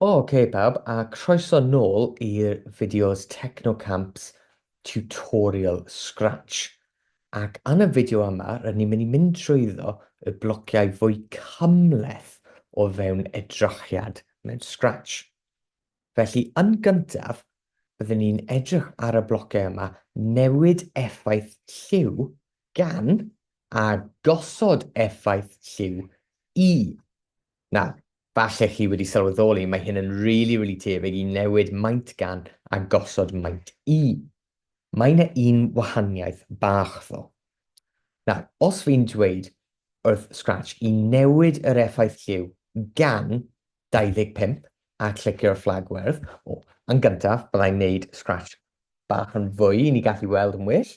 Ok pawb, a croeso nôl i'r fideos Technocamps tutorial Scratch. Ac yn y fideo yma, rydyn ni'n mynd i mynd trwyddo y blociau fwy cymhleth o fewn edrychiad mewn Scratch. Felly, yn gyntaf, byddwn ni'n edrych ar y blocau yma, newid effaith lliw gan a gosod effaith lliw i. Nawr, falle chi wedi sylweddoli, mae hyn yn rili, rili tebyg i newid maint gan a gosod maint i. Mae yna un wahaniaeth bach ddo. Nawr, os fi'n dweud wrth Scratch i newid yr effaith lliw gan 25 a clicio'r fflag werdd. O, yn gyntaf, byddai'n neud scratch bach yn fwy i ni gallu weld yn well.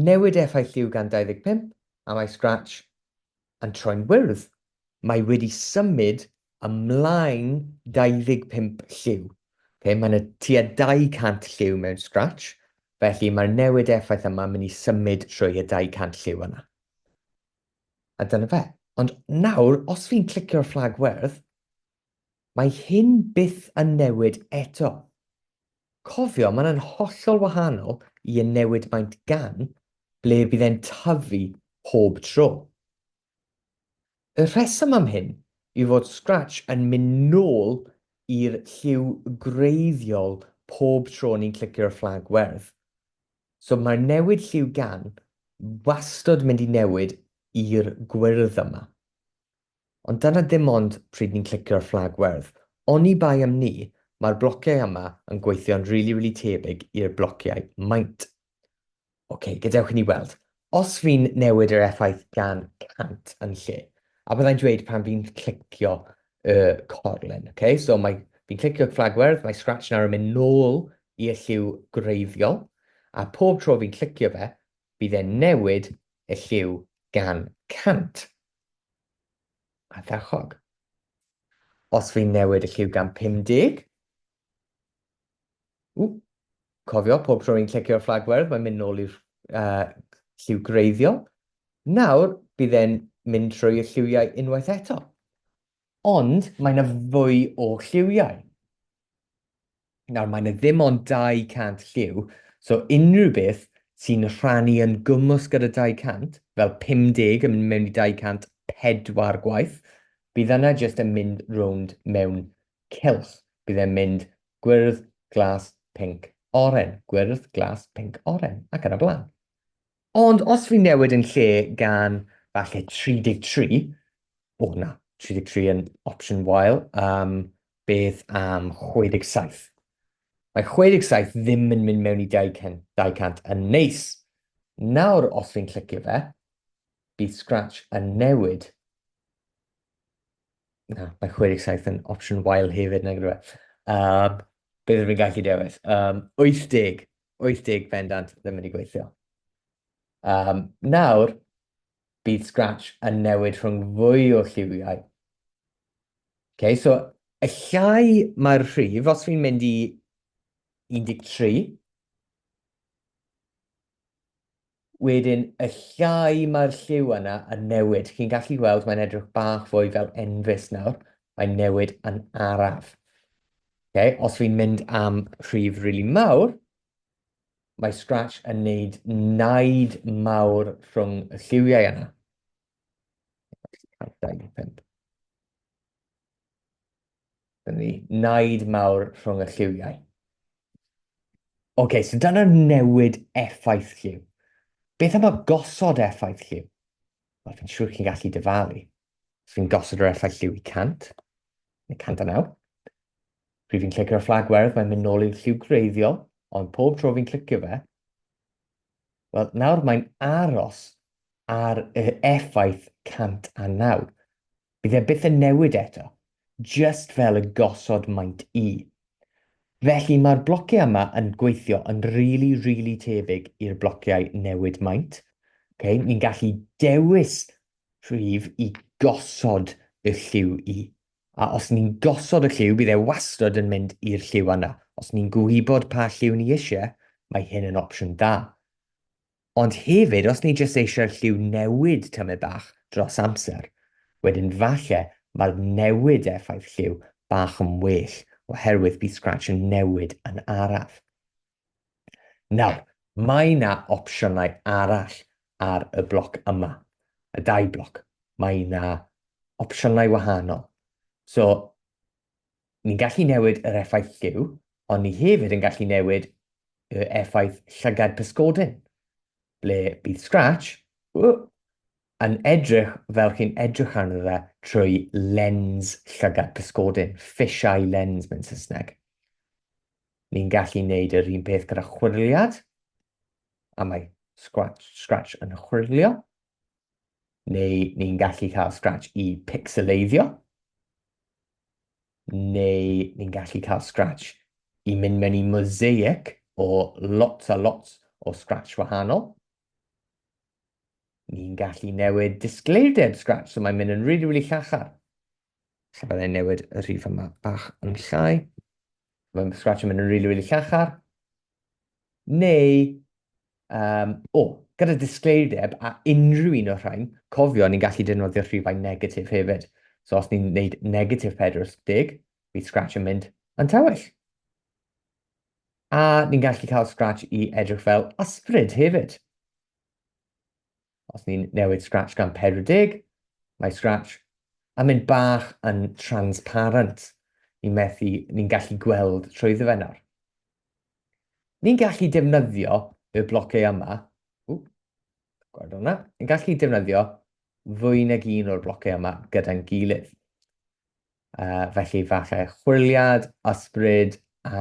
Newid effaith lliw gan 25 a mae scratch yn troi'n wyrdd. Mae wedi symud ymlaen 25 lliw. Okay, mae yna tua 200 lliw mewn scratch, felly mae'r newid effaith yma mynd i symud trwy y 200 lliw yna. A dyna fe. Ond nawr, os fi'n clicio'r fflag werdd, mae hyn byth yn newid eto. Cofio, mae'n yn hollol wahanol i y newid maint gan, ble bydd e'n tyfu pob tro. Y rheswm am hyn yw fod Scratch yn mynd nôl i'r lliw gwreiddiol pob tro ni'n clicio'r fflag werdd. So mae'r newid lliw gan wastod mynd i newid i'r gwyrdd yma. Ond dyna ddim ond pryd ni'n clicio'r fflag werdd. Oni bai am ni, mae'r blociau yma yn gweithio'n rili rili tebyg i'r blociau maint. Ok, gadewch i ni weld. Os fi'n newid yr effaith gan 100 yn lle, a byddai'n dweud pan fi'n clicio y corlen, ok? So mae, fi'n clicio fflagwyrdd, mae Scratch nawr yn mynd nôl i'r lliw gwreiddiol, a pob tro fi'n clicio fe, bydd e'n newid y lliw gan 100. Ardderchog. Os fi'n newid y lliw gan 50, Ww! Cofio, pob tro ni'n clicio'r fflag werdd, mae'n mynd nôl i'r uh, lliw greiddiol. Nawr, bydd e'n mynd trwy y lliwiau unwaith eto. Ond mae yna fwy o lliwiau. Nawr, mae yna ddim ond 200 lliw, so unrhyw beth sy'n rhannu yn gwmws gyda 200, fel 50 yn mynd mewn i 204 gwaith, bydd yna jyst yn mynd rownd mewn Cylch, bydd e'n mynd gwyrdd, glas, pinc, oren, gwyrdd, glas, pinc, oren, ac yn y blaen. Ond os fi'n newid yn lle gan falle 33, o na, 33 yn opsiwn wael, um, beth am 67? Mae 67 ddim yn mynd mewn i 200, 200 yn neis. Nawr, os fi'n clicio fe, bydd Scratch yn newid Na, mae 67 yn opsiwn wael hefyd, nag yw e? Um, beth rwy'n gallu dewis? Um, 80, 80 bendant ddim wedi gweithio. Um, nawr, bydd Scratch yn newid rhwng fwy o lliwiau. Okay, so, y llai mae'r rhif, os fi'n mynd i 13, Wedyn, y llai mae'r lliw yna yn newid. Chi'n gallu gweld mae'n edrych bach fwy fel enfys nawr. Mae'n newid yn araf. Okay? Os fi'n mynd am rhif rili really mawr, mae Scratch yn neud naid mawr rhwng y lliwiau yna. Dyna naid mawr rhwng y lliwiau. Oce, okay, so dyna newid effaith lliw. Beth am y gosod effaith lliw? Wel, fi'n siŵr chi'n gallu dyfalu. Os fi'n gosod yr effaith lliw i 100, neu 109, pryd fi'n clicio ar fflag werdd, mae'n mynd nôl i'r lliw greiddiol, ond pob tro fi'n clicio fe, wel, nawr mae'n aros ar yr effaith 109. Bydd e byth yn newid eto, jyst fel y gosod maint i. Felly mae'r blociau yma yn gweithio yn rili, rili tebyg i'r blociau newid maint. Okay? Ni'n gallu dewis rhif i gosod y lliw i. A os ni'n gosod y lliw, bydd e wastad yn mynd i'r lliw yna. Os ni'n gwybod pa lliw ni eisiau, mae hyn yn opsiwn dda. Ond hefyd os ni jyst eisiau'r lliw newid tamaid bach dros amser, wedyn falle mae'r newid effaith lliw bach yn well oherwydd bydd Scratch yn newid yn araf. Nawr, mae na opsiynau arall ar y bloc yma, y dau bloc, mae na opsiynau wahanol. So, Ni'n gallu newid yr effaith lliw, ond ni hefyd yn gallu newid y effaith llygad pysgodyn, ble bydd Scratch uh, yn edrych fel chi'n edrych arno fe trwy lens llygad pysgodyn, fish eye lens mewn Saesneg. Ni'n gallu wneud yr un peth gyda chwirliad, a mae Scratch, Scratch yn chwirlio. neu ni'n gallu cael Scratch i pixeleiddio, neu ni'n gallu cael Scratch i mynd mewn i mosaic o lots a lots o Scratch wahanol. Ni'n gallu newid disgleirdeb Scratch, so mae'n mynd yn rili, really, really llachar. Lle byddai newid y rhif yma bach yn llai. Mae'n scratch yn mynd yn rili, rili llachar. Neu, um, o, oh, gyda disgleirdeb a unrhyw un o'r rhain, cofio ni'n gallu defnyddio rhifau negatif hefyd. So os ni'n gwneud negatif 40, bydd scratch yn mynd yn tywyll. A ni'n gallu cael scratch i edrych fel ysbryd hefyd. Os ni'n newid Scratch gan 40, mae Scratch yn mynd bach yn transparent. Ni'n methu, ni'n gallu gweld trwyddo fe nawr. Ni'n gallu defnyddio y blocau yma. Ww, gweld hwnna. Ni'n gallu defnyddio fwy nag un o'r blocau yma gyda'n gilydd. Uh, felly falle chwiliad, ysbryd a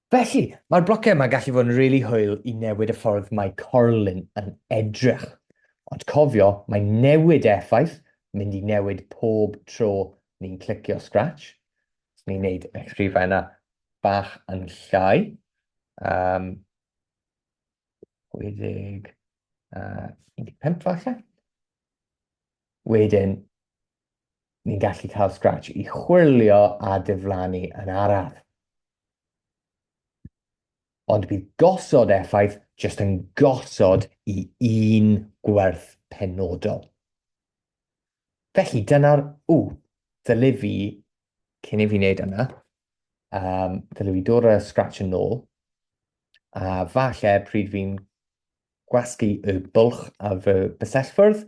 Felly, mae'r blociau yma gallu fod yn rili really hwyl i newid y ffordd mae corlun yn edrych. Ond cofio, mae newid effaith mynd i newid pob tro ni'n clicio Scratch. Os ni'n neud y rhifau yna bach yn llai. Um, 60, uh, 15 falle. Wedyn, ni'n gallu cael Scratch i chwilio a diflannu yn araf. Ond bydd gosod effaith jyst yn gosod i un gwerth penodol. Felly dyna'r, ww, ddylai fi, cyn i fi wneud yna, um, ddylai fi dod â Scratch yn ôl, a falle pryd fi'n gwasgu y bwlch a fy bysellfwrdd,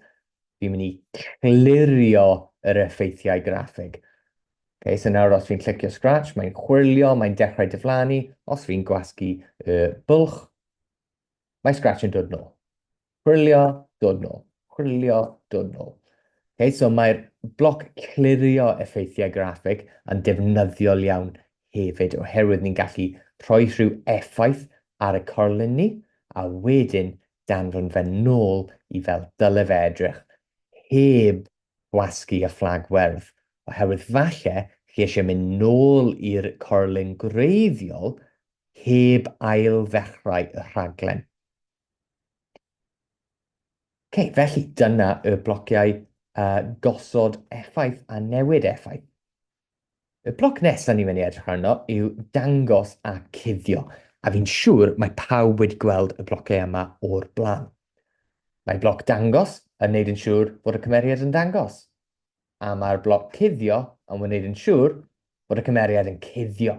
fi'n mynd i clirio yr effeithiau graffig. Okay, so nawr os fi'n clicio scratch, mae'n chwilio, mae'n dechrau diflannu. Os fi'n gwasgu y bwlch, mae scratch yn dod nôl. Chwilio, dod nôl. chwilio dwnnw. Okay, so mae'r bloc clirio effeithiau graffeg yn defnyddiol iawn hefyd, oherwydd ni'n gallu rhoi rhyw effaith ar y corlun ni, a wedyn danfon fe nôl i fel dyle fe edrych, heb gwasgu y fflag werdd, oherwydd falle chi eisiau mynd nôl i'r corlun gwreiddiol heb ail ddechrau y rhaglen. Ok, felly dyna y blociau uh, gosod effaith a newid effaith. Y bloc nesaf ni'n mynd i edrych arno yw dangos a cuddio, a fi'n siŵr mae pawb wedi gweld y blociau yma o'r blaen. Mae bloc dangos yn neud yn siŵr bod y cymeriad yn dangos, a mae'r bloc cuddio yn wneud yn siŵr bod y cymeriad yn cuddio.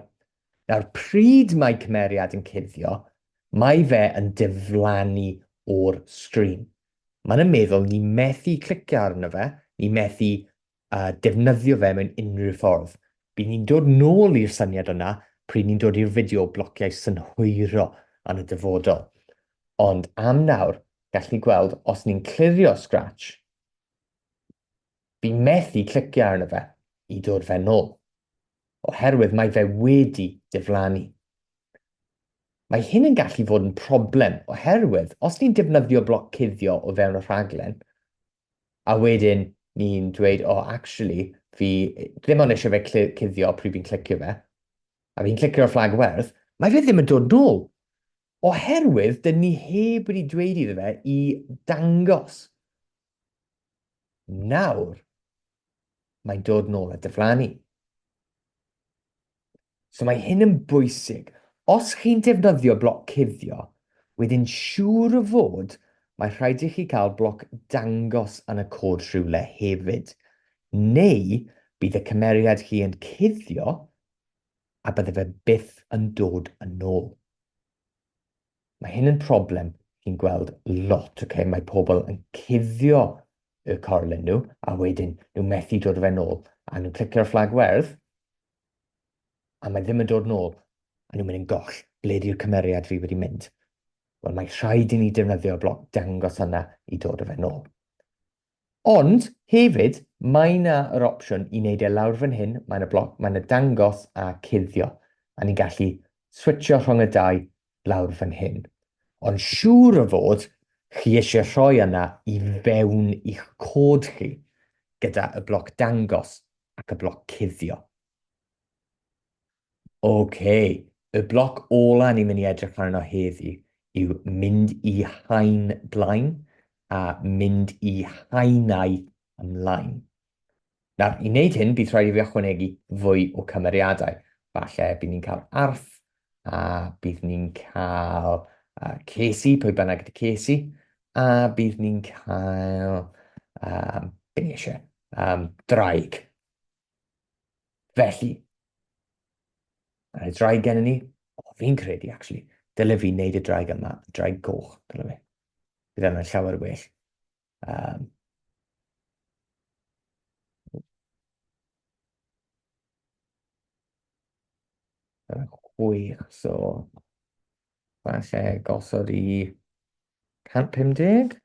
Nawr, pryd mae cymeriad yn cuddio, mae fe yn diflannu o'r sgrin. Mae'n yn meddwl ni methu clicio arno fe, ni methu uh, defnyddio fe mewn unrhyw ffordd. Bydd ni'n dod nôl i'r syniad yna pryd ni'n dod i'r fideo o blociau synhwyro yn y dyfodol. Ond am nawr, gallwn ni gweld os ni'n clirio Scratch, Fi methu clicio arno fe i dod fe nôl, oherwydd mae fe wedi diflannu. Mae hyn yn gallu fod yn problem oherwydd os ni'n defnyddio bloc cuddio o fewn y rhaglen, a wedyn ni'n dweud, o, oh, actually, fi ddim ond eisiau fe cuddio pryd fi'n clicio fe, a fi'n clicio'r fflag werth, mae fe ddim yn dod nôl. Oherwydd, dyn ni heb wedi dweud iddo fe i dangos Nawr, mae'n dod nôl a dyflannu. So mae hyn yn bwysig. Os chi'n defnyddio bloc cuddio, wedyn siŵr o fod mae rhaid i chi cael bloc dangos yn y cod rhywle hefyd, neu bydd y cymeriad chi yn cuddio a bydde fe byth yn dod yn ôl. Mae hyn yn problem chi'n gweld lot, ok? Mae pobl yn cuddio y corlen nhw, a wedyn nhw methu dod o fe'n ôl. A nhw'n clicio'r fflag werdd, a mae ddim yn dod yn ôl, a nhw'n mynd yn goll, ble di'r cymeriad fi wedi mynd? Wel, mae rhaid i ni defnyddio bloc dangos yna i dod o fe'n ôl. Ond, hefyd, mae yna yr opsiwn i wneud e lawr fan hyn, mae yna bloc, mae yna dangos a cuddio, a ni'n gallu switsio rhwng y dau lawr fan hyn. Ond siŵr o fod chi eisiau rhoi yna i fewn i'ch cod chi gyda y bloc dangos ac y bloc cuddio. Ok, y bloc ola ni'n mynd i edrych arno heddi yw mynd i haen blaen a mynd i haenau ymlaen. Nawr, i wneud hyn, bydd rhaid i fi ychwanegu fwy o cymeriadau. Falle bydd ni'n cael arth, a bydd ni'n cael uh, cesi, pwy bynnag ydy cesi, a bydd ni'n cael, um, beth ni eisiau, um, draig. Felly, a rhaid draig gen i ni, o, fi'n credu, actually, dyle fi wneud y draig yma, y draig goch, dyle fi. Bydd yna'n llawer o well. Um, chwech, so falle gosod i 150.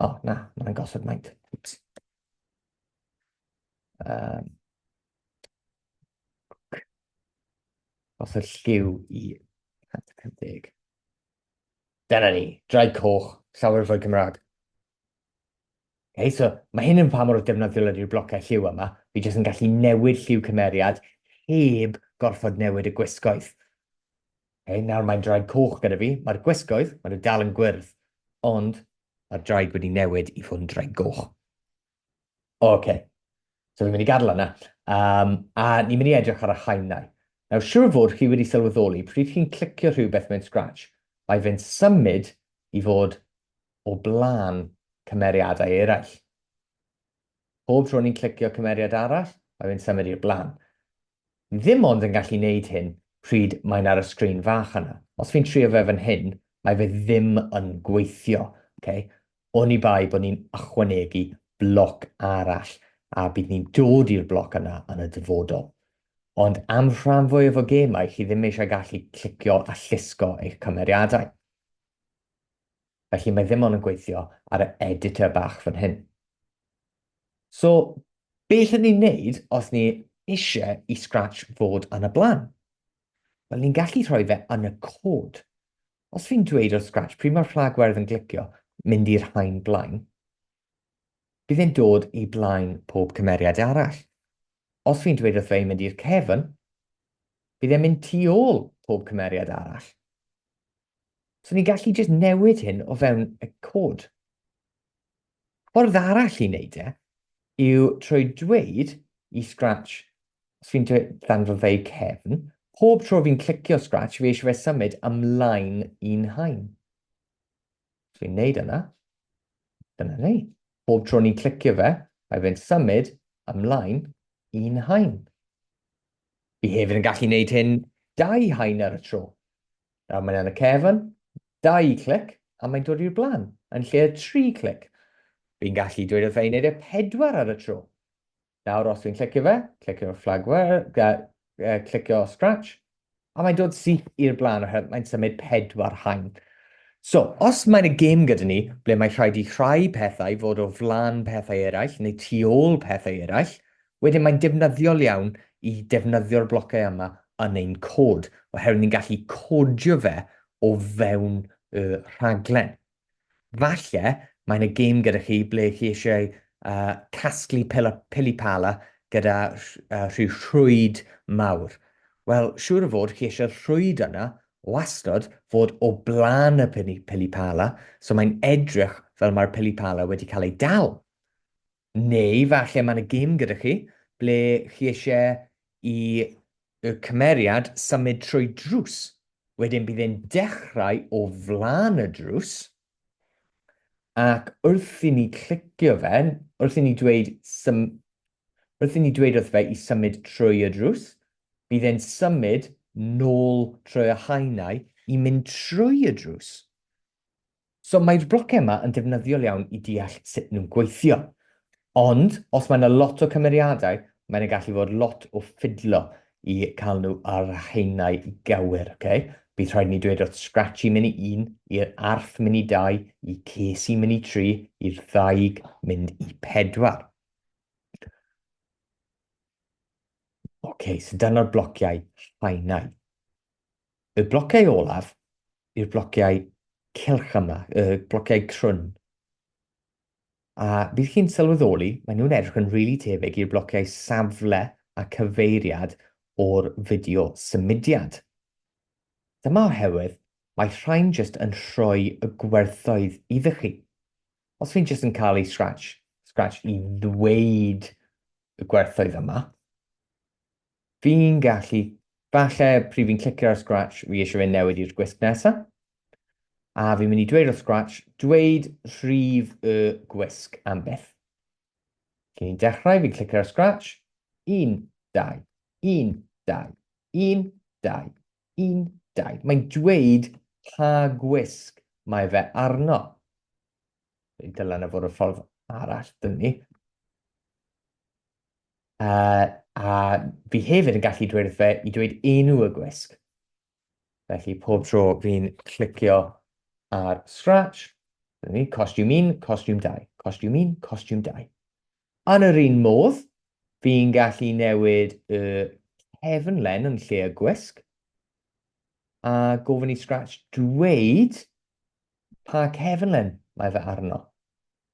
O, oh, na, mae'n gosod maint. Um, gosod lliw i 150. Dyna ni, draed coch, llawer fwy Cymraeg. Okay, so mae hyn yn pa mor defnyddiol ydy'r blocau lliw yma. Fi jyst yn gallu newid lliw cymeriad heb gorfod newid y gwisgoedd. Okay, nawr mae'n draed coch gyda fi. Mae'r gwisgoedd, mae nhw dal yn gwyrdd, ond mae'r draed wedi newid i fod yn draed goch. O, oce. Okay. So fi'n mynd i gadael yna. Um, a ni'n mynd i edrych ar y haenau. Nawr, siwr fod chi wedi sylweddoli pryd chi'n clicio rhywbeth mewn Scratch, mae fe'n symud i fod o blaen cymeriadau eraill. Pob tro ni'n clicio cymeriad arall, mae fe'n symud i'r blaen. Ddim ond yn gallu neud hyn pryd mae'n ar y sgrin fach yna. Os fi'n trio fe fan hyn, mae fe ddim yn gweithio, ok? Oni bai bod ni'n ychwanegu bloc arall, a bydd ni'n dod i'r bloc yna yn y dyfodol. Ond am rhan fwyaf o gemau, chi ddim eisiau gallu clicio a llusgo eich cymeriadau. felly mae ddim ond yn gweithio ar y editor bach fan hyn. So, be allwn ni wneud os ni eisiau i Scratch fod yn y blaen? Wel, ni'n gallu rhoi fe yn y cod. Os fi'n dweud o'r Scratch pryd mae'r fflag werdd yn glicio mynd i'r haen blaen, bydd e'n dod i blaen pob cymeriad arall. Os fi'n dweud wrth fe i mynd i'r cefn, bydd e'n mynd tu ôl pob cymeriad arall. So ni'n gallu jyst newid hyn o fewn y cod. Ffordd arall i wneud e yw trwy dweud i Scratch, os fi'n danfo fe i cefn, pob tro fi'n clicio Scratch, fi eisiau fe symud ymlaen i'n hain. Os fi'n neud yna, dyna ni. Pob tro ni'n clicio fe, mae fe'n symud ymlaen i'n hain. Fi hefyd yn gallu neud hyn dau haen ar y tro. Nawr mae'n yn y cefn, dau clic, a mae'n dod i'r blaen, yn lle y tri clic. Fi'n gallu dweud wrth fe i wneud e pedwar ar y tro. Nawr, os dwi'n clicio fe, clicio flagware, uh, clicio scratch, a mae'n dod syth i'r blaen oherwydd mae'n symud pedwar haen. So, os mae'n y gêm gyda ni, ble mae rhaid i rhai pethau fod o flan pethau eraill neu tu ôl pethau eraill, Wedyn mae'n defnyddiol iawn i defnyddio'r blocau yma yn ein cod, oherwydd ni'n gallu codio fe o fewn y rhaglen. Falle mae yna gêm gyda chi ble chi eisiau uh, casglu peli pala gyda uh, rhyw rhwyd mawr. Wel, siŵr o fod chi eisiau rhwyd yna wastod fod o blaen y peli pala, so mae'n edrych fel mae'r peli pala wedi cael ei dal. Neu falle mae yna gêm gyda chi ble chi eisiau i y cymeriad symud trwy drws. Wedyn bydd e'n dechrau o flaen y drws, ac wrth i ni clicio fe, wrth i ni dweud sym- wrth i ni dweud wrth fe i symud trwy y drws, bydd e'n symud nôl trwy y haenau i mynd trwy y drws. So mae'r blociau yma yn defnyddiol iawn i deall sut nhw'n gweithio. Ond os mae yna lot o cymeriadau, mae yna gallu fod lot o ffidlo i cael nhw ar haenau gywir, okay? Bydd rhaid i ni dweud wrth Scratchy mynd i un, i'r arth mynd i dau, i Casey mynd i tri, i'r ddaig mynd i pedwar. Okay, so dyna'r blociau haenau. Y blociau olaf i'r blociau cylch yma, y blociau crwn. A bydd chi'n sylweddoli, maen nhw'n edrych yn rili really tebyg i'r blociau safle a cyfeiriad o'r fideo symudiad. Dyma oherwydd mae rhain jyst yn rhoi y gwerthoedd iddo chi. Os fi'n jyst yn cael ei scratch, scratch i ddweud y gwerthoedd yma, Fi'n gallu. Falle pryd fi'n clicio ar Scratch, fi eisiau fe newid i'r gwisg nesa. A fi'n mynd i dweud wrth Scratch, dweud rhif y gwisg am byth. Cyn i'n dechrau, fi'n clicio ar Scratch. 1, 2, 1, 2, 1, 2, 1, 2. Mae'n dweud pa gwisg mae fe arno. Dylen y fod y ffordd arall dyn ni. Uh, a fi hefyd yn gallu dweud wrth fe i dweud enw y gwisg. Felly pob tro fi'n clicio ar Scratch, ni, costiwm 1, costiwm 2, costiwm 1, costiwm 2. Yn yr un modd, fi'n gallu newid y cefn len yn lle y gwisg, a gofyn i Scratch dweud pa cefn len mae fe arno.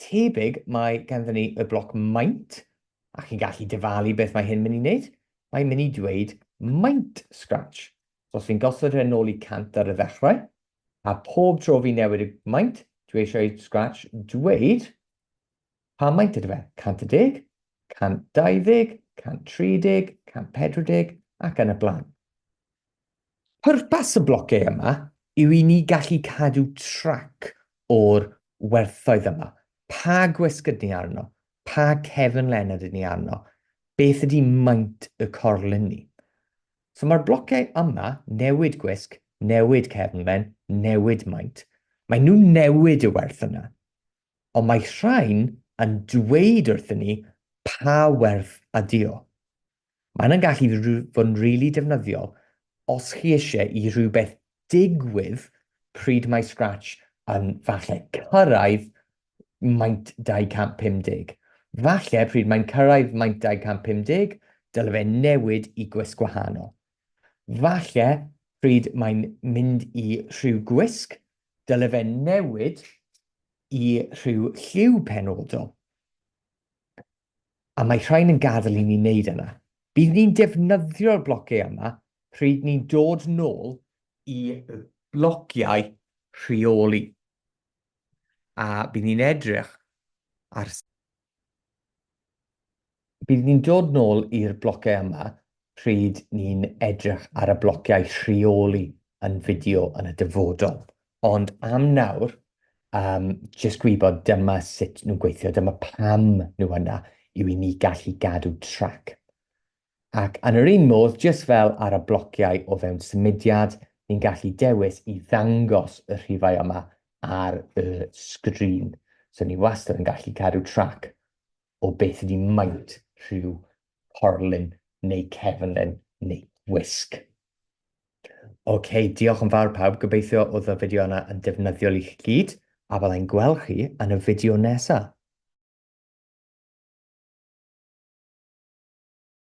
Tebyg mae ganddyn ni y bloc maint, a chi'n gallu dyfalu beth mae hyn mynd i wneud. Mae'n mynd i dweud maint Scratch. So os fi'n gosod hyn ôl i 100 ar y ddechrau, a pob tro fi'n newid y maint, dwi eisiau i Scratch dweud pa maint ydy fe, 110, 120, 130, 140 ac yn y blaen. Pwrpas y blociau yma yw i ni gallu cadw trac o'r werthoedd yma, pa gwysg ydyn ni arno, pa cefn len ydyn ni arno, beth ydy maint y corlun ni. So mae'r blociau yma, newid gwysg, newid cefn len, newid maint, mae nhw'n newid y werth yna. Ond mae rhain yn dweud wrthyn ni pa werth ydy o. Mae hynna'n gallu fod yn rili defnyddiol os chi eisiau i rhywbeth digwydd pryd mae Scratch yn falle cyrraedd maint 250. Falle pryd mae'n cyrraedd maint 250, dyle fe newid i gwisg gwahanol. Falle pryd mae'n mynd i rhyw gwisg, dyle fe newid i rhyw lliw penodol. a mae rhain yn gadael i ni wneud yna. Bydd ni'n defnyddio'r blociau yma pryd ni'n dod nôl i blociau rheoli, a bydd ni'n edrych ar. Bydd ni'n dod nôl i'r blociau yma pryd ni'n edrych ar y blociau rheoli yn fideo yn y dyfodol. Ond am nawr, um, jyst gwybod dyma sut nhw'n gweithio, dyma pam nhw yna, yw i ni gallu gadw trac. Ac yn yr un modd, jyst fel ar y blociau o fewn symudiad, ni'n gallu dewis i ddangos y rhifau yma ar y sgrin. So ni wastad yn gallu cadw trac o beth ydi maint rhyw porlun neu cefnlen neu wisg. Ok, diolch yn fawr pawb, gobeithio oedd y fideo yna yn defnyddiol i chi gyd, a byddai'n gweld chi yn y fideo nesaf.